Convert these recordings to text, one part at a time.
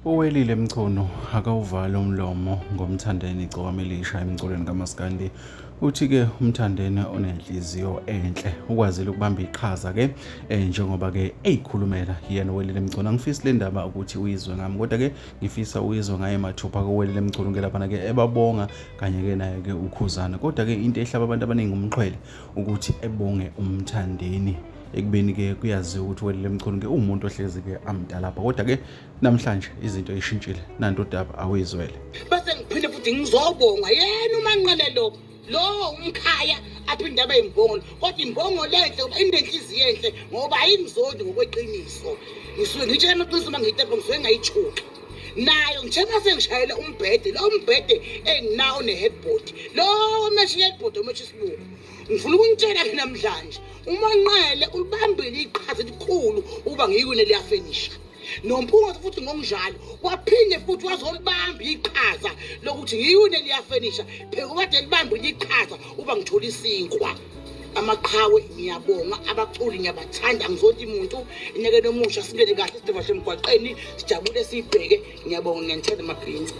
Uwelile Mchunu akawuvali umlomo ngomthandeni igcokama elisha emculweni kamaskandi uthi-ke umthandeni onenhliziyo enhle ukwazile ukubamba iqhaza-ke um njengoba-ke eyikhulumela yena uwelile mchunu angifisi le ndaba ukuthi uyizwe ngami kodwa-ke ngifisa uyizwe ngaye mathupha kowelile mchunu ke laphana-ke ebabonga kanye-ke naye-ke ukhuzana kodwa-ke into ehlaba abantu abaningi umxhwele ukuthi ebonge umthandeni ekubeni ke kuyaziwa ukuthi welile mchunu ke uwumuntu ohlezi ke amdala apha kodwa ke namhlanje izinto ishintshile nanto udaba awuyizwele bese ngiphinde futhi ngizobonga yena umanqele lo lo umkhaya aphinde abe imbongolo kodwa imbongo lenhle uba inenhliziyo enhle ngoba ayingizodi ngokweqiniso ngisuke ngitshela amaqiniso uma ngiyitepo ngisuke ngayithuki nayo njengoba sengishayele umbhede lo mbhede enginawo ne-headboard lo mesha i-headboard omesha isilungu ngifuna ukunitshela-ke namhlanje umanqele ulibambile iqhaza elikhulu ukuba ngiyikune liyafenisha nomphungathi futhi ngokunjalo waphinde futhi wazolibamba iqhaza lokuthi ngiyune liyafenisha phekubade libambile iqhaza uba ngithola isinkwa amaqhawe ngiyabonga abaculi ngiyabathanda ngizonti muntu inyakeni omusha sibuyele kahle sideva semgwaqeni sijabule siyibheke ngiyabonga ngiyanithanda mabhinci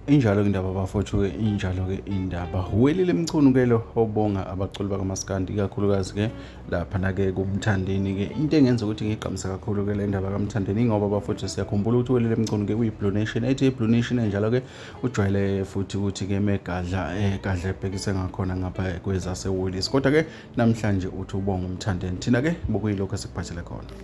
injalo-ke indaba bafowethu-ke injalo-ke indaba welile mchunu-ke lo obonga abaculi bakamaskandi ikakhulukazi-ke laphana-ke kumthandeni-ke into engenza ukuthi ngigqamisa kakhulu-ke le ndaba kamthandeni ingoba bafowethu siyakhumbula ukuthi welile mchunu-ke kuyi-blue nation ethi i-blue nation enjalo-ke ujwayele futhi ukuthi ke megadla egadla eh, ebhekise ngakhona ngapha kwezaseWoolies kodwa ke namhlanje uthi ubonga umthandeni thina ke bokuyilokho esikuphathele khona